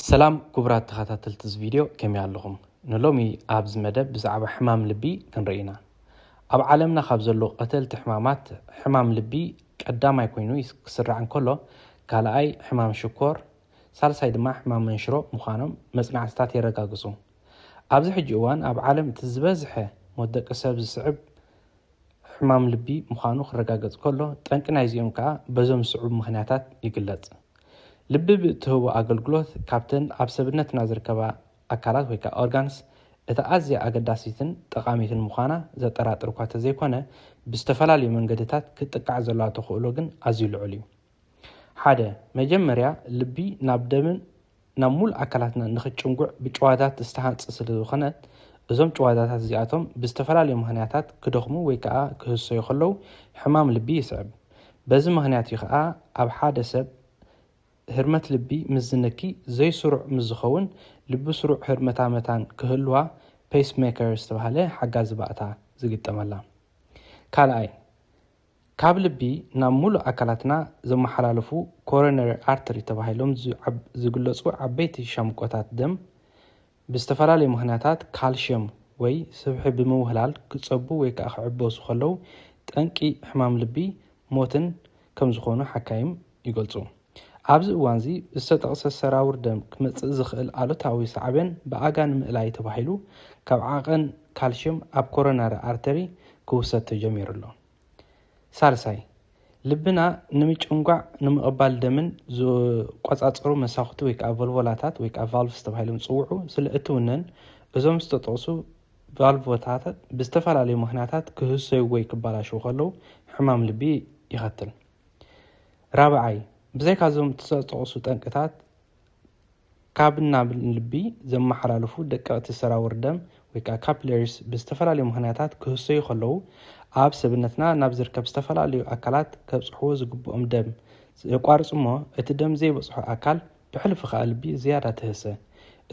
ሰላም ኩቡራት ተኻታተልቲ እዚ ቪድዮ ከመይ ኣለኹም ንሎሚ ኣብዚ መደብ ብዛዕባ ሕማም ልቢ ክንርኢ ኢና ኣብ ዓለምና ካብ ዘለዉ ቐተልቲ ሕማማት ሕማም ልቢ ቀዳማይ ኮይኑ ክስራዕ እንከሎ ካልኣይ ሕማም ሽኮር ሳልሳይ ድማ ሕማም መንሽሮ ምዃኖም መጽናዕትታት የረጋግጹ ኣብዚ ሕጂ እዋን ኣብ ዓለም እቲ ዝበዝሐ ሞት ደቂ ሰብ ዝስዕብ ሕማም ልቢ ምዃኑ ክረጋገጽ ከሎ ጠንቂ ናይዚኦም ከኣ በዞም ዝስዕቡ ምኽንያታት ይግለጽ ልቢ ብእትህቦ ኣገልግሎት ካብተን ኣብ ሰብነትና ዝርከባ ኣካላት ወይ ከኣ organs እታ ኣዝያ ኣገዳሲትን ጠቓሚትን ምዃና ዘጠራጥር እኳ ተዘይኮነ ብዝተፈላለዩ መንገድታት ክትጥቃዕ ዘለዋ ተኽእሎ ግን ኣዝዩ ልዑል እዩ። ሓደ፣ መጀመርያ ልቢ ናብ ደምን ናብ ሙሉእ ኣካላትና ንክጭንጉዕ ብጭዋዳታት ዝተሃንጸ ስለዝኾነ፣ እዞም ጭዋዳታት እዚኣቶም ብዝተፈላለዩ ምኽንያታት ክደኽሙ ወይ ከኣ ክህሰዩ ከለዉ ሕማም ልቢ ይስዕብ። በዚ ምኽንያት እዩ ከኣ ኣብ ሓደ ሰብ ህርመት ልቢ ምስ ዝንኪ ዘይስሩዕ ምስ ዝኸውን ልቢ ስሩዕ ህርመታ መታን ክህልዋ Pacemaker ዝተባህለ ሓጋዚ ባእታ ዝግጠመላ። ካልኣይ። ካብ ልቢ ናብ ሙሉእ ኣካላትና ዝመሓላለፉ ኮሮነሪ ኣርተሪ ተባሂሎም ዝግለፁ ዓበይቲ ሻምቆታት ደም ብዝተፈላለዩ ምኽንያታት ካልሽየም ወይ ስብሒ ብምውህላል ክፀቡ ወይ ከዓ ክዕበሱ ከለው ጠንቂ ሕማም ልቢ ሞትን ከምዝኾኑ ሓካይም ይገልፁ። ኣብዚ እዋንዚ ዝተጠቕሰ ሰራውር ደም ክመጽእ ዝኽእል ኣሉታዊ ሳዕቤን ብኣጋ ንምእላይ ተባሂሉ ካብ ዓቐን ካልሽየም ኣብ ኮሮናሪ ኣርተሪ ክውሰድ ተጀሚሩ ኣሎ። ሳልሳይ፣ ልብና ንምጭንጓዕ ንምቕባል ደምን ዝቆጻጸሩ መሳኹቲ ወይ ከኣ ቮልቮላታት ወይ ከኣ ቫልቭስ ተባሂሎም ዝጽውዑ ስለ እትውነን እዞም ዝተጠቕሱ ቫልቮታታት ብዝተፈላለዩ ምኽንያታት ክህሰዩ ወይ ክበላሸዉ ከለዉ ሕማም ልቢ የኸትል። ራብዓይ፣ ብዘይካ እዞም ዝተጠቕሱ ጠንቅታት ካብ ናብ ልቢ ዘመሓላልፉ ደቀቕቲ ሰራውር ደም ወይ ከዓ ካፕለሪስ ብዝተፈላለዩ ምኽንያታት ክህሰዩ ከለዉ ኣብ ሰብነትና ናብ ዝርከብ ዝተፈላለዩ ኣካላት ከብፅሕዎ ዝግብኦም ደም የቋርፁ እሞ እቲ ደም ዘይበፅሖ ኣካል ብሕልፊ ከዓ ልቢ ዝያዳ ትህሰ።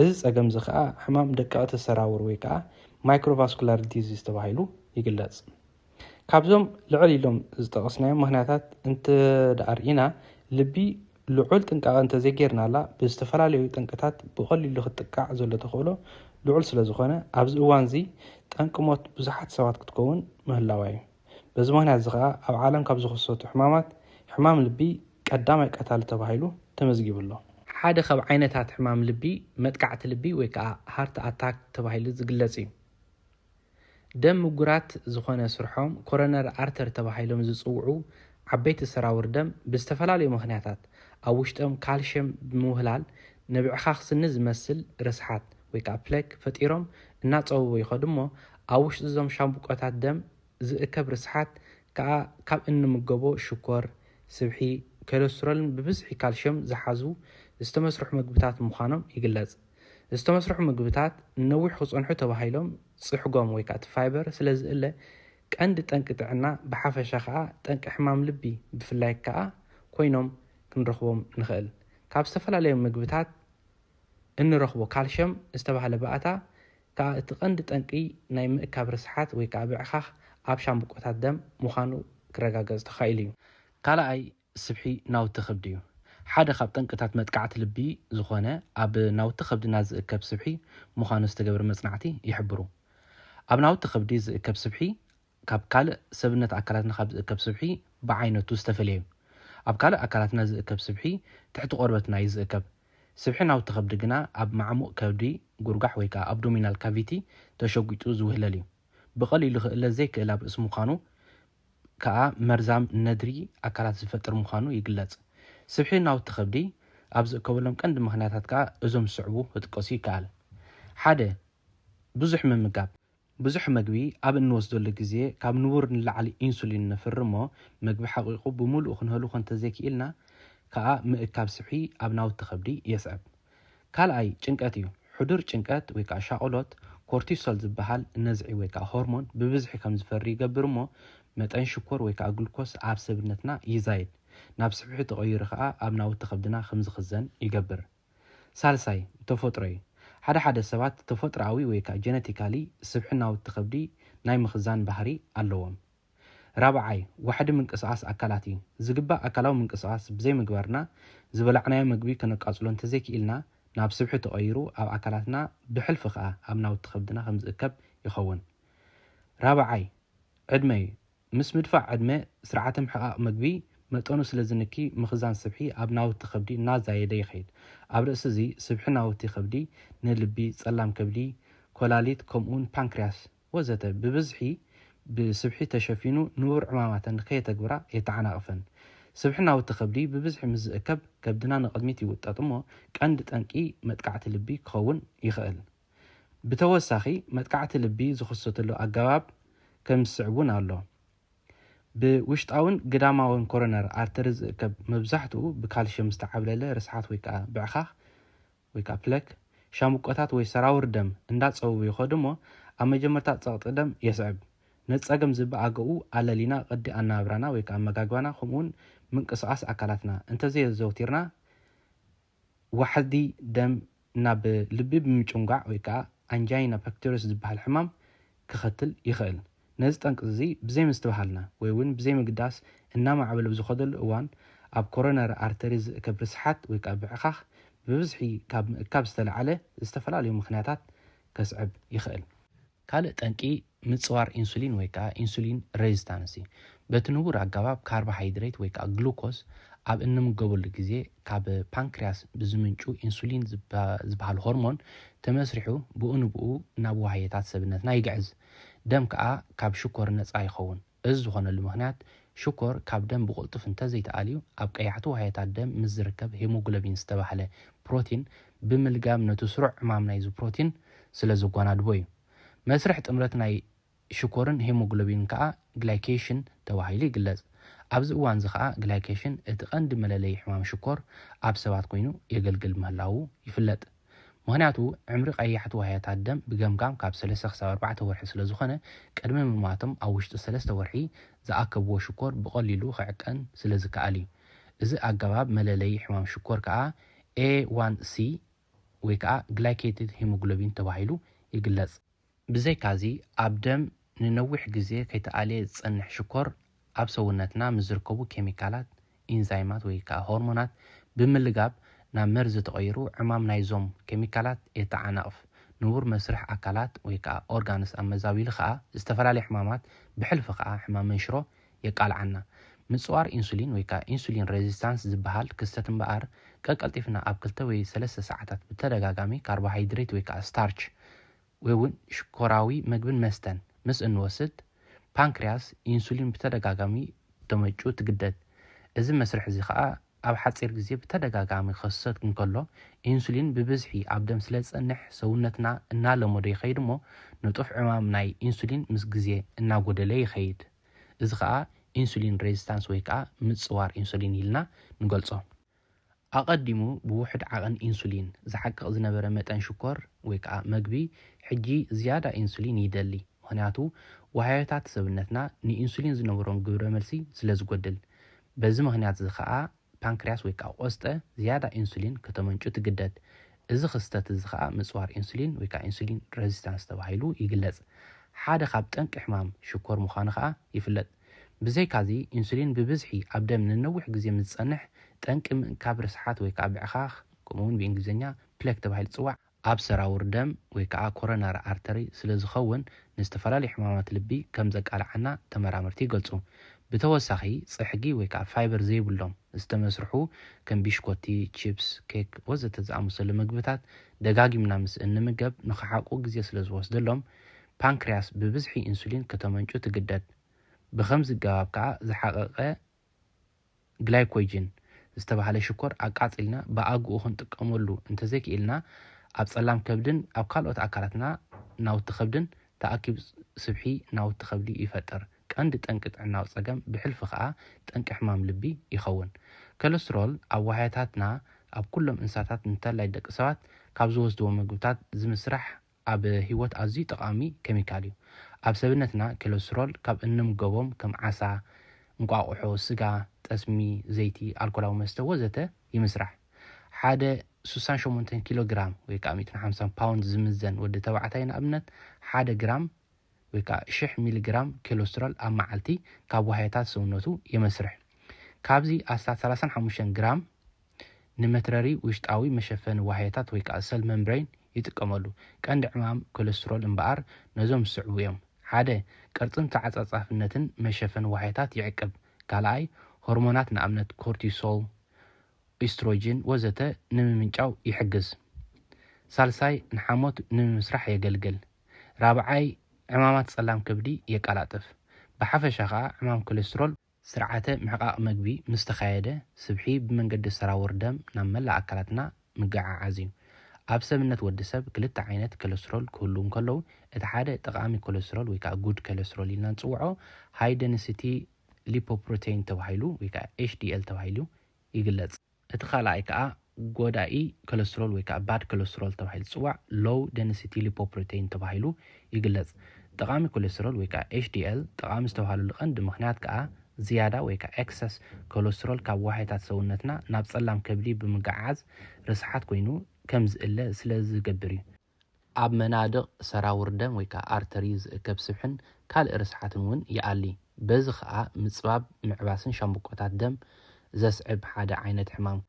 እዚ ፀገም እዚ ከዓ ሕማም ደቀቕቲ ሰራውር ወይ ከዓ ማይክሮቫስኩላር ዲዚዝ ተባሂሉ ይግለፅ። ካብዞም ልዕል ኢሎም ዝጠቐስናዮም ምክንያታት እንተደኣርኢና ልቢ ልዑል ጥንቃቐ እንተዘይጌርናላ ብዝተፈላለዩ ጠንቅታት ብቐሊሉ ክትጥቃዕ ዘሎ ተኽእሎ ልዑል ስለዝኾነ ኣብዚ እዋንዚ ጠንቂ ሞት ብዙሓት ሰባት ክትከውን ምህላዋ እዩ። በዚ ምክንያትዚ ከኣ ኣብ ዓለም ካብ ዝኽሰቱ ሕማማት ሕማም ልቢ ቀዳማይ ቀታሊ ተባሂሉ ተመዝጊቡ ኣሎ። ሓደ ካብ ዓይነታት ሕማም ልቢ መጥቃዕቲ ልቢ ወይከኣ ሃርት ኣታክ ተባሂሉ ዝግለጽ እዩ። ደም ምጉራት ዝኾነ ስርሖም ኮሮነሪ ኣርተር ተባሂሎም ዝጽውዑ ዓበይቲ ሰራውር ደም ብዝተፈላለዩ ምኽንያታት ኣብ ውሽጦም ካልሸም ብምውህላል ንብዕኻኽ ስኒ ዝመስል ርስሓት ወይ ከኣ ፕለክ ፈጢሮም እናጸበቡ ይኸዱ እሞ ኣብ ውሽጢ እዞም ሻምብቆታት ደም ዝእከብ ርስሓት ከኣ ካብ እንምገቦ ሽኮር ስብሒ ኮለስትሮልን ብብዝሒ ካልሸም ዝሓዙ ዝተመስርሑ መግብታት ምዃኖም ይግለጽ። ዝተመስርሑ ምግብታት ንነዊሕ ክጸንሑ ተባሂሎም ጽሕጎም ወይ ከኣ እቲ ፋይበር ስለ ዝእለ ቀንዲ ጠንቂ ጥዕና ብሓፈሻ ከኣ ጠንቂ ሕማም ልቢ ብፍላይ ከኣ ኮይኖም ክንረኽቦም ንኽእል። ካብ ዝተፈላለዩ ምግብታት እንረኽቦ ካልሸም ዝተባህለ ባእታ ከኣ እቲ ቀንዲ ጠንቂ ናይ ምእካብ ርስሓት ወይ ከኣ ብዕኻኽ ኣብ ሻምብቆታት ደም ምዃኑ ክረጋገጽ ተኻኢሉ እዩ። ካልኣይ ስብሒ ናውቲ ከብዲ እዩ። ሓደ ካብ ጠንቅታት መጥቃዕቲ ልቢ ዝኾነ ኣብ ናውቲ ከብድና ዝእከብ ስብሒ ምዃኑ ዝተገብረ መጽናዕቲ ይሕብሩ። ኣብ ናውቲ ከብዲ ዝእከብ ስብሒ ካብ ካልእ ሰብነት ኣካላትና ካብ ዝእከብ ስብሒ ብዓይነቱ ዝተፈልየ እዩ። ኣብ ካልእ ኣካላትና ዝእከብ ስብሒ ትሕቲ ቆርበትና እዩ ዝእከብ። ስብሒ ናውቲ ከብዲ ግና ኣብ ማዕሙቕ ከብዲ ጉርጓሕ ወይ ከኣ ኣብዶሚናል ካቪቲ ተሸጒጡ ዝውህለል እዩ። ብቐሊሉ ክእለ ዘይክእል ኣብ ርእሲ ምዃኑ ከኣ መርዛም ነድሪ ኣካላት ዝፈጥር ምዃኑ ይግለጽ። ስብሒ ናውቲ ከብዲ ኣብ ዝእከበሎም ቀንዲ ምኽንያታት ከኣ እዞም ዝስዕቡ ክጥቀሱ ይከኣል። ሓደ፣ ብዙሕ ምምጋብ። ብዙሕ መግቢ ኣብ እንወስደሉ ግዜ ካብ ንቡር ንላዕሊ ኢንሱሊን ነፍሪ'ሞ መግቢ ሓቒቑ ብምሉኡ ክንሀልዎ እንተዘይክኢልና ከኣ ምእካብ ስብሒ ኣብ ናውቲ ከብዲ የስዕብ። ካልኣይ ጭንቀት እዩ። ሕዱር ጭንቀት ወይ ከኣ ሻቕሎት፣ ኮርቲሶል ዝበሃል ነዝዒ ወይ ከኣ ሆርሞን ብብዝሒ ከም ዝፈሪ ይገብር እሞ፣ መጠን ሽኮር ወይ ከኣ ግሉኮስ ኣብ ሰብነትና ይዛይድ። ናብ ስብሒ ተቐይሩ ከኣ ኣብ ናውቲ ከብድና ከም ዝኽዘን ይገብር። ሳልሳይ ተፈጥሮ እዩ። ሓደ ሓደ ሰባት ተፈጥሮኣዊ ወይ ከኣ ጀነቲካሊ ስብሒ ናውቲ ከብዲ ናይ ምኽዛን ባህሪ ኣለዎም። ራብዓይ፣ ዋሕዲ ምንቅስቓስ ኣካላት እዩ። ዝግባእ ኣካላዊ ምንቅስቓስ ብዘይምግባርና ዝበላዕናዮ መግቢ ከነቃጽሎ እንተዘይክኢልና ናብ ስብሒ ተቐይሩ ኣብ ኣካላትና ብሕልፊ ከኣ ኣብ ናውቲ ከብድና ከም ዝእከብ ይኸውን። ራብዓይ፣ ዕድመ እዩ። ምስ ምድፋእ ዕድመ፣ ስርዓተ ምሕቓቕ መግቢ መጠኑ ስለ ዝንኪ ምኽዛን ስብሒ ኣብ ናውቲ ከብዲ እናዛየደ ይኸይድ። ኣብ ርእሲ'ዚ ስብሒ ናውቲ ከብዲ ንልቢ፣ ጸላም ከብዲ፣ ኮላሊት ከምኡ'ውን ፓንክርያስ፣ ወዘተ ብብዝሒ ብስብሒ ተሸፊኑ ንቡር ዕማማተን ከየተግብራ የተዓናቕፈን። ስብሒ ናውቲ ከብዲ ብብዝሒ ምስ ዝእከብ ከብድና ንቕድሚት ይውጠጥ እሞ ቀንዲ ጠንቂ መጥቃዕቲ ልቢ ክኸውን ይኸእል። ብተወሳኺ መጥቃዕቲ ልቢ ዝኽሰተሉ ኣገባብ ከም ዝስዕብ እውን ኣሎ። ብውሽጣውን ግዳማውን ኮሮነር ኣርተሪ ዝእከብ መብዛሕትኡ ብካልሽየም ዝተዓብለለ ርስሓት ወይ ከዓ ብዕኻኽ ወይ ከኣ ፕለክ፣ ሻምብቆታት ወይ ሰራውር ደም እንዳጸበቡ ይኸዱ እሞ ኣብ መጀመርታ ጸቕጢ ደም የስዕብ። ነዚ ጸገም ዝበኣገኡ ኣለሊና ቅዲ ኣነባብራና ወይ ከኣ ኣመጋግባና ከምኡውን ምንቅስቓስ ኣካላትና እንተዘየዘውቲርና ዋሕዲ ደም ናብ ልቢ ብምጭንጓዕ ወይ ከኣ ኣንጃይና ፐክቶሪስ ዝበሃል ሕማም ከኸትል ይኸእል። ነዚ ጠንቂ'ዚ ብዘይምስትብሃልና ወይ ውን ብዘይምግዳስ እናማዕበለ ብዝኸደሉ እዋን ኣብ ኮሮነሪ ኣርተሪ ዝእከብ ርስሓት ወይ ከኣ ብዕኻኽ ብብዝሒ ካብ ምእካብ ዝተለዓለ ዝተፈላለዩ ምኽንያታት ከስዕብ ይኸእል። ካልእ ጠንቂ ምጽዋር ኢንሱሊን ወይ ከኣ ኢንሱሊን ረዚስታንስ እዩ። በቲ ንቡር ኣገባብ ካርቦ ሃይድሬት ወይ ከኣ ግሉኮስ ኣብ እንምገበሉ ግዜ ካብ ፓንክርያስ ብዝምንጩ ኢንሱሊን ዝበሃል ሆርሞን ተመስሪሑ ብኡ ንብኡ ናብ ዋህዮታት ሰብነትና ይግዕዝ። ደም ከኣ ካብ ሽኮር ነጻ ይኸውን። እዚ ዝኾነሉ ምኽንያት ሽኮር ካብ ደም ብቕልጡፍ እንተ ዘይተኣልዩ ኣብ ቀያሕቲ ዋህዮታት ደም ምስ ዝርከብ ሄሞግሎቢን ዝተባህለ ፕሮቲን ብምልጋብ ነቱ ስሩዕ ዕማም ናይዚ ፕሮቲን ስለ ዘጓናድቦ እዩ። መስርሕ ጥምረት ናይ ሽኮርን ሄሞግሎቢንን ከኣ ግላይኬሽን ተባሂሉ ይግለጽ። ኣብዚ እዋንዚ ከኣ ግላይኬሽን እቲ ቀንዲ መለለዪ ሕማም ሽኮር ኣብ ሰባት ኮይኑ የገልግል ምህላዉ ይፍለጥ። ምኽንያቱ ዕምሪ ቀያሕቲ ዋህያታት ደም ብገምጋም ካብ ሰለስተ ክሳብ ኣርባዕተ ወርሒ ስለ ዝኾነ፣ ቅድሚ ምሟቶም ኣብ ውሽጢ ሰለስተ ወርሒ ዝኣከብዎ ሽኮር ብቐሊሉ ክዕቀን ስለ ዝከኣል እዩ። እዚ ኣገባብ መለለዪ ሕማም ሽኮር ከኣ ኤ ዋን ሲ ወይ ከኣ ግላይኬትድ ሂሞግሎቢን ተባሂሉ ይግለጽ። ብዘይካዚ ኣብ ደም ንነዊሕ ግዜ ከይተኣልየ ዝጸንሕ ሽኮር ኣብ ሰውነትና ምስ ዝርከቡ ኬሚካላት፣ ኢንዛይማት ወይ ከኣ ሆርሞናት ብምልጋብ ናብ መርዚ ተቐይሩ ዕማም ናይዞም ኬሚካላት የተዓናቕፍ። ንቡር መስርሕ ኣካላት ወይ ከኣ ኦርጋንስ ኣመዛቢሉ ከኣ ዝተፈላለየ ሕማማት ብሕልፊ ከኣ ሕማም መንሽሮ የቃልዓና። ምጽዋር ኢንሱሊን ወይ ከኣ ኢንሱሊን ረዚስታንስ ዝበሃል ክስተት እምበኣር ቀቀልጢፍና ኣብ ክልተ ወይ ሰለስተ ሰዓታት ብተደጋጋሚ ካርቦሃይድሬት ወይ ከኣ ስታርች ወይ'ውን ሽኮራዊ መግብን መስተን ምስ እንወስድ፣ ፓንክርያስ ኢንሱሊን ብተደጋጋሚ ክተመንጩ ትግደድ። እዚ መስርሕ'ዚ ከኣ ኣብ ሓጺር ግዜ ብተደጋጋሚ ክኸሰት እንከሎ፣ ኢንሱሊን ብብዝሒ ኣብ ደም ስለ ዝጸንሕ ሰውነትና እናለመዶ ይኸይድ'ሞ ንጡፍ ዕማም ናይ ኢንሱሊን ምስ ግዜ እናጎደለ ይኸይድ። እዚ ከኣ ኢንሱሊን ሬዚስታንስ ወይ ከኣ ምጽዋር ኢንሱሊን ኢልና ንገልጾ። ኣቐዲሙ ብውሑድ ዓቐን ኢንሱሊን ዝሓቅቕ ዝነበረ መጠን ሽኮር ወይ ከኣ መግቢ ሕጂ ዝያዳ ኢንሱሊን ይደሊ፣ ምኽንያቱ ዋህዮታት ሰብነትና ንኢንሱሊን ዝነብሮም ግብረ መልሲ ስለ ዝጎድል። በዚ ምኽንያት'ዚ ከኣ ፓንክርያስ ወይ ከኣ ቆስጠ ዝያዳ ኢንሱሊን ከተመንጩ ትግደድ። እዚ ክስተት እዚ ከኣ ምጽዋር ኢንሱሊን ወይ ከኣ ኢንሱሊን ረዚስታንስ ተባሂሉ ይግለጽ። ሓደ ካብ ጠንቂ ሕማም ሽኮር ምዃኑ ከኣ ይፍለጥ። ብዘይካዚ፣ ኢንሱሊን ብብዝሒ ኣብ ደም ንነዊሕ ግዜ ምስ ዝጸንሕ፣ ጠንቂ ምእካብ ርስሓት ወይ ከኣ ብዕኻኽ፣ ከምኡ'ውን ብእንግሊዝኛ፣ Plaque ተባሂሉ ዝጽዋዕ፣ ኣብ ሰራውር ደም ወይ ከኣ ኮሮናሪ ኣርተሪ ስለ ዝኸውን ንዝተፈላለዩ ሕማማት ልቢ ከም ዘቃልዓና ተመራመርቲ ይገልጹ። ብተወሳኺ፣ ጽሕጊ ወይ ከኣ ፋይበር ዘይብሎም ዝተመስርሑ ከም ቢሽኮቲ፣ ቺፕስ፣ ኬክ ወዘተ ዝኣመሰሉ መግብታት ደጋጊምና ምስ እንምገብ ንኽሓቁ ግዜ ስለ ዝወስደሎም ፓንክርያስ ብብዝሒ ኢንሱሊን ከተመንጩ ትግደድ። ብኸምዚ ኣገባብ ከኣ ዝሓቐቐ ግላይኮጅን ዝተባህለ ሽኮር ኣቃጺልና ብኣግኡ ክንጥቀመሉ እንተዘይክኢልና ኣብ ጸላም ከብድን ኣብ ካልኦት ኣካላትና ናውቲ ከብድን ተኣኪቡ ስብሒ ናውቲ ከብዲ ይፈጥር። ቀንዲ ጠንቂ ጥዕናዊ ጸገም ብሕልፊ ከኣ ጠንቂ ሕማም ልቢ ይኸውን። ከለስትሮል ኣብ ዋህያታትና ኣብ ኩሎም እንስሳታት እንተላይ ደቂ ሰባት ካብ ዝወስድዎ መግብታት ዝምስራሕ ኣብ ህይወት ኣዝዩ ጠቓሚ ኬሚካል እዩ። ኣብ ሰብነትና ኬለስትሮል ካብ እንምገቦም ከም ዓሳ፣ እንቋቑሖ፣ ስጋ፣ ጠስሚ፣ ዘይቲ፣ ኣልኮላዊ መስተ ወዘተ ይምስራሕ። ሓደ ሱሳን ሸሞንተን ኪሎ ግራም ወይ ከኣ ሚእትን ሓምሳን ፓውንድ ዝምዘን ወዲ ተባዕታይ ንኣብነት ሓደ ግራም ወይ ከኣ ሽሕ ሚሊ ግራም ኬሎስትሮል ኣብ መዓልቲ ካብ ዋህዮታት ሰውነቱ የመስርሕ። ካብዚ ኣስታት ሰላሳን ሓሙሽተን ግራም ንመትረሪ ውሽጣዊ መሸፈኒ ዋህዮታት ወይ ከኣ ሰል መምብረይን ይጥቀመሉ። ቀንዲ ዕማም ኬሎስትሮል እምበኣር ነዞም ዝስዕቡ እዮም፣ ሓደ። ቅርጽን ተዓጻጻፍነትን መሸፈኒ ዋህዮታት ይዕቅብ፣ ካልኣይ። ሆርሞናት ንኣብነት ኮርቲሶል፣ ኦይስትሮጂን ወዘተ ንምምንጫው ይሕግዝ፣ ሳልሳይ። ንሓሞት ንምምስራሕ የገልግል። ራብዓይ ዕማማት ጸላም ከብዲ የቀላጥፍ። ብሓፈሻ ከኣ ዕማም ኮሌስትሮል፣ ስርዓተ ምሕቃቕ መግቢ ምስ ተኻየደ ስብሒ ብመንገዲ ሰራውር ደም ናብ መላእ ኣካላትና ምገዓዓዝ እዩ። ኣብ ሰብነት ወዲ ሰብ ክልተ ዓይነት ኮሌስትሮል ክህልዉ እንከለዉ እቲ ሓደ ጠቓሚ ኮሌስትሮል ወይ ከኣ ጉድ ኮሌስትሮል ኢልና ንጽውዖ ሃይ ደንሲቲ ሊፖፕሮተይን ተባሂሉ ወይ ከኣ ኤችዲኤል ተባሂሉ ይግለጽ። እቲ ካልኣይ ከኣ ጎዳኢ ኮለስትሮል ወይ ከኣ ባድ ኮለስትሮል ተባሂሉ ዝጽዋዕ ሎው ደንሲቲ ሊፖፕሮተይን ተባሂሉ ይግለጽ። ጠቓሚ ኮለስትሮል ወይ ከኣ HDL ጠቓሚ ዝተባህለሉ ቀንዲ ምኽንያት ከኣ ዝያዳ ወይ ከኣ ኤክሰስ ኮለስትሮል ካብ ዋህዮታት ሰውነትና ናብ ጸላም ከብዲ ብምግዕዓዝ ርስሓት ኮይኑ ከም ዝእለ ስለ ዝገብር እዩ። ኣብ መናድቕ ሰራውር ደም ወይ ከኣ ኣርተርዩ ዝእከብ ስብሕን ካልእ ርስሓትን እውን ይኣሊ። በዚ ከኣ ምጽባብ ምዕባስን ሻምብቆታት ደም ዘስዕብ ሓደ ዓይነት ሕማም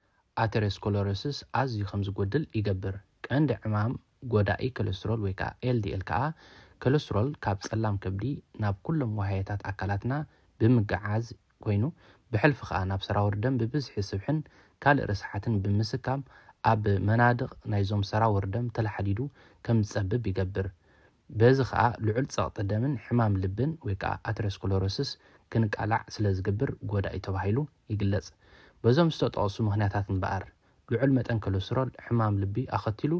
ኣተረስኮለሮሲስ ኣዝዩ ከም ዝጎድል ይገብር። ቀንዲ ዕማም ጎዳኢ ከለስትሮል ወይ ከኣ ኤልዲኤል ከኣ ከለስትሮል ካብ ጸላም ከብዲ ናብ ኩሎም ዋህያታት ኣካላትና ብምግዓዝ ኮይኑ ብሕልፊ ከኣ ናብ ሰራውር ደም ብብዝሒ ስብሕን ካልእ ርስሓትን ብምስካም ኣብ መናድቕ ናይዞም ሰራውር ደም ተላሓዲዱ ከም ዝጸብብ ይገብር። በዚ ከኣ ልዑል ጸቕጢ ደምን ሕማም ልብን ወይ ከኣ ኣተረስኮሎሮሲስ ክንቃላዕ ስለ ዝግብር ጎዳኢ ተባሂሉ ይግለጽ። በዞም ዝተጠቕሱ ምክንያታት እምበኣር ልዑል መጠን ኮለስትሮል ሕማም ልቢ ኣኸቲሉ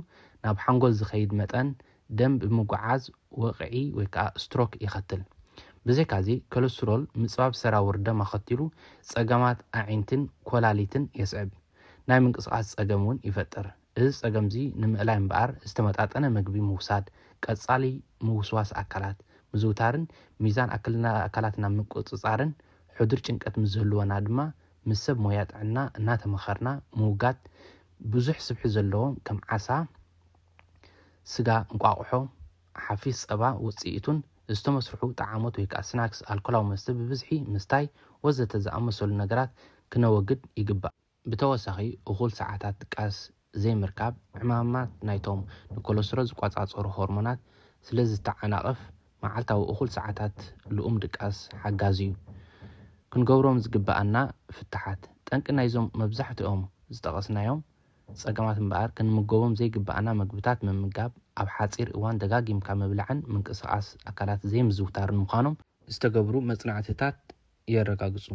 ናብ ሓንጎል ዝኸይድ መጠን ደም ብምጉዕዓዝ ወቕዒ ወይ ከኣ ስትሮክ የኸትል። ብዘይካዚ ኮለስትሮል ምጽባብ ሰራውር ደም ኣኸቲሉ ጸገማት ኣዒንቲን ኮላሊትን የስዕብ። ናይ ምንቅስቓስ ጸገም እውን ይፈጥር። እዚ ጸገምዚ ንምእላይ እምበኣር ዝተመጣጠነ መግቢ ምውሳድ፣ ቀጻሊ ምውስዋስ ኣካላት ምዝውታርን ሚዛን ኣክልና ኣካላትና ምቁጽጻርን ሕዱር ጭንቀት ምስ ዝህልወና ድማ ምስ ሰብ ሞያ ጥዕና እናተመኸርና ምውጋድ ብዙሕ ስብሒ ዘለዎም ከም ዓሳ፣ ስጋ፣ እንቋቑሖ፣ ሓፊስ ጸባ ውጽኢቱን ዝተመስርሑ ጠዓሞት ወይ ከኣ ስናክስ፣ ኣልኮላዊ መስተ ብብዝሒ ምስታይ ወዘተ ዝኣመሰሉ ነገራት ክነወግድ ይግባእ። ብተወሳኺ እኹል ሰዓታት ድቃስ ዘይምርካብ ዕማማት ናይቶም ንኮለስትሮል ዝቆጻጸሩ ሆርሞናት ስለ ዝተዓናቕፍ፣ መዓልታዊ እኹል ሰዓታት ልኡም ድቃስ ሓጋዚ'ዩ። ክንገብሮም ዝግብኣና ፍታሓት፣ ጠንቂ ናይዞም መብዛሕትኦም ዝጠቐስናዮም ጸገማት እምበኣር ክንምገቦም ዘይግብኣና መግብታት ምምጋብ፣ ኣብ ሓጺር እዋን ደጋጊምካ ምብላዕን ምንቅስቓስ ኣካላት ዘይምዝውታርን ምዃኖም፣ ዝተገብሩ መጽናዕትታት የረጋግጹ።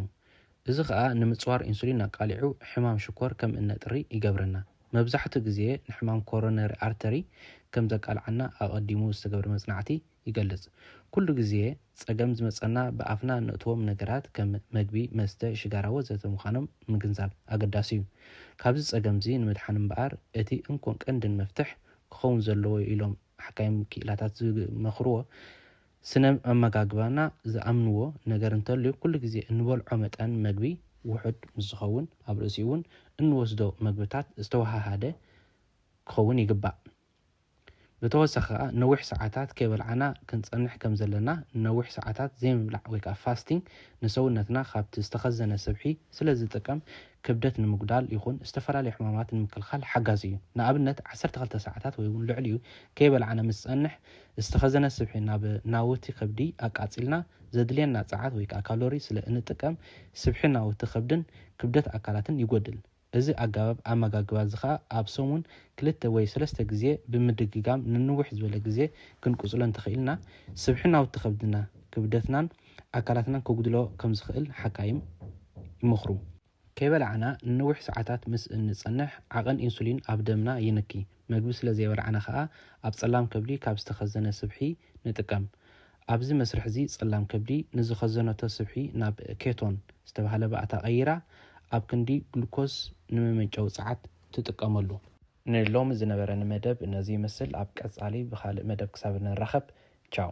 እዚ ከኣ ንምጽዋር ኢንሱሊን ኣቃሊዑ ሕማም ሽኮር ከም እነጥሪ ይገብረና። መብዛሕትኡ ግዜ ንሕማም ኮሮነሪ ኣርተሪ ከም ዘቃልዓና ኣቐዲሙ ዝተገብረ መጽናዕቲ ይገልጽ። ኩሉ ግዜ ጸገም ዝመጸና ብኣፍና እነእትዎም ነገራት ከም መግቢ፣ መስተ፣ ሽጋራ ወዘተ ምዃኖም ምግንዛብ ኣገዳሲ'ዩ። ካብዚ ጸገም'ዚ ንምድሓን እምበኣር እቲ እንኮን ቀንድን መፍትሕ ክኸውን ዘለዎ ኢሎም ሓካይም ክኢላታት ዝመኽርዎ ስነ ኣመጋግባና ዝኣምንዎ ነገር እንተልዩ ኩሉ ግዜ እንበልዖ መጠን መግቢ ውሑድ ምስ ዝኸውን ኣብ ርእሲኡ'ውን እንወስዶ መግብታት ዝተወሃሃደ ክኸውን ይግባእ። ብተወሳኺ ከኣ ነዊሕ ሰዓታት ከይበልዓና ክንጸንሕ ከም ዘለና፣ ነዊሕ ሰዓታት ዘይምብላዕ ወይ ከኣ ፋስቲንግ ንሰውነትና ካብቲ ዝተኸዘነ ስብሒ ስለ ዝጥቀም ክብደት ንምጉዳል ይኹን ዝተፈላለዩ ሕማማት ንምክልኻል ሓጋዚ እዩ። ንኣብነት ዓሰርተ ክልተ ሰዓታት ወይ እውን ልዕሊኡ ከይበላዕና ምስ ዝፀንሕ ዝተኸዘነ ስብሒ ናብ ናውቲ ከብዲ ኣቃፂልና ዘድልየና ፀዓት ወይ ከዓ ካሎሪ ስለ እንጥቀም ስብሒ ናውቲ ከብድን ክብደት ኣካላትን ይጎድል። እዚ ኣገባብ ኣመጋግባ እዚ ከዓ ኣብ ሰሙን ክልተ ወይ ሰለስተ ግዜ ብምድግጋም ንንውሕ ዝበለ ግዜ ክንቅፅሎ እንተኽኢልና ስብሒ ናውቲ ከብድና፣ ክብደትናን፣ ኣካላትና ከጉድሎ ከም ዝኽእል ሓካይም ይመኽሩ። ከይበላዕና ንነዊሕ ሰዓታት ምስ እንጸንሕ፣ ዓቐን ኢንሱሊን ኣብ ደምና ይንኪ። መግቢ ስለ ዘይበላዕና ከኣ ኣብ ጸላም ከብዲ ካብ ዝተኸዘነ ስብሒ ንጥቀም። ኣብዚ መስርሕ'ዚ ጸላም ከብዲ ንዝኸዘነቶ ስብሒ ናብ ኬቶን ዝተባህለ ባእታ ቀይራ ኣብ ክንዲ ግሉኮስ ንመመንጨዊ ጸዓት ትጥቀመሉ። ንሎሚ ዝነበረኒ መደብ ነዚ ይመስል። ኣብ ቀጻሊ ብኻልእ መደብ ክሳብ እንራኸብ ቻው።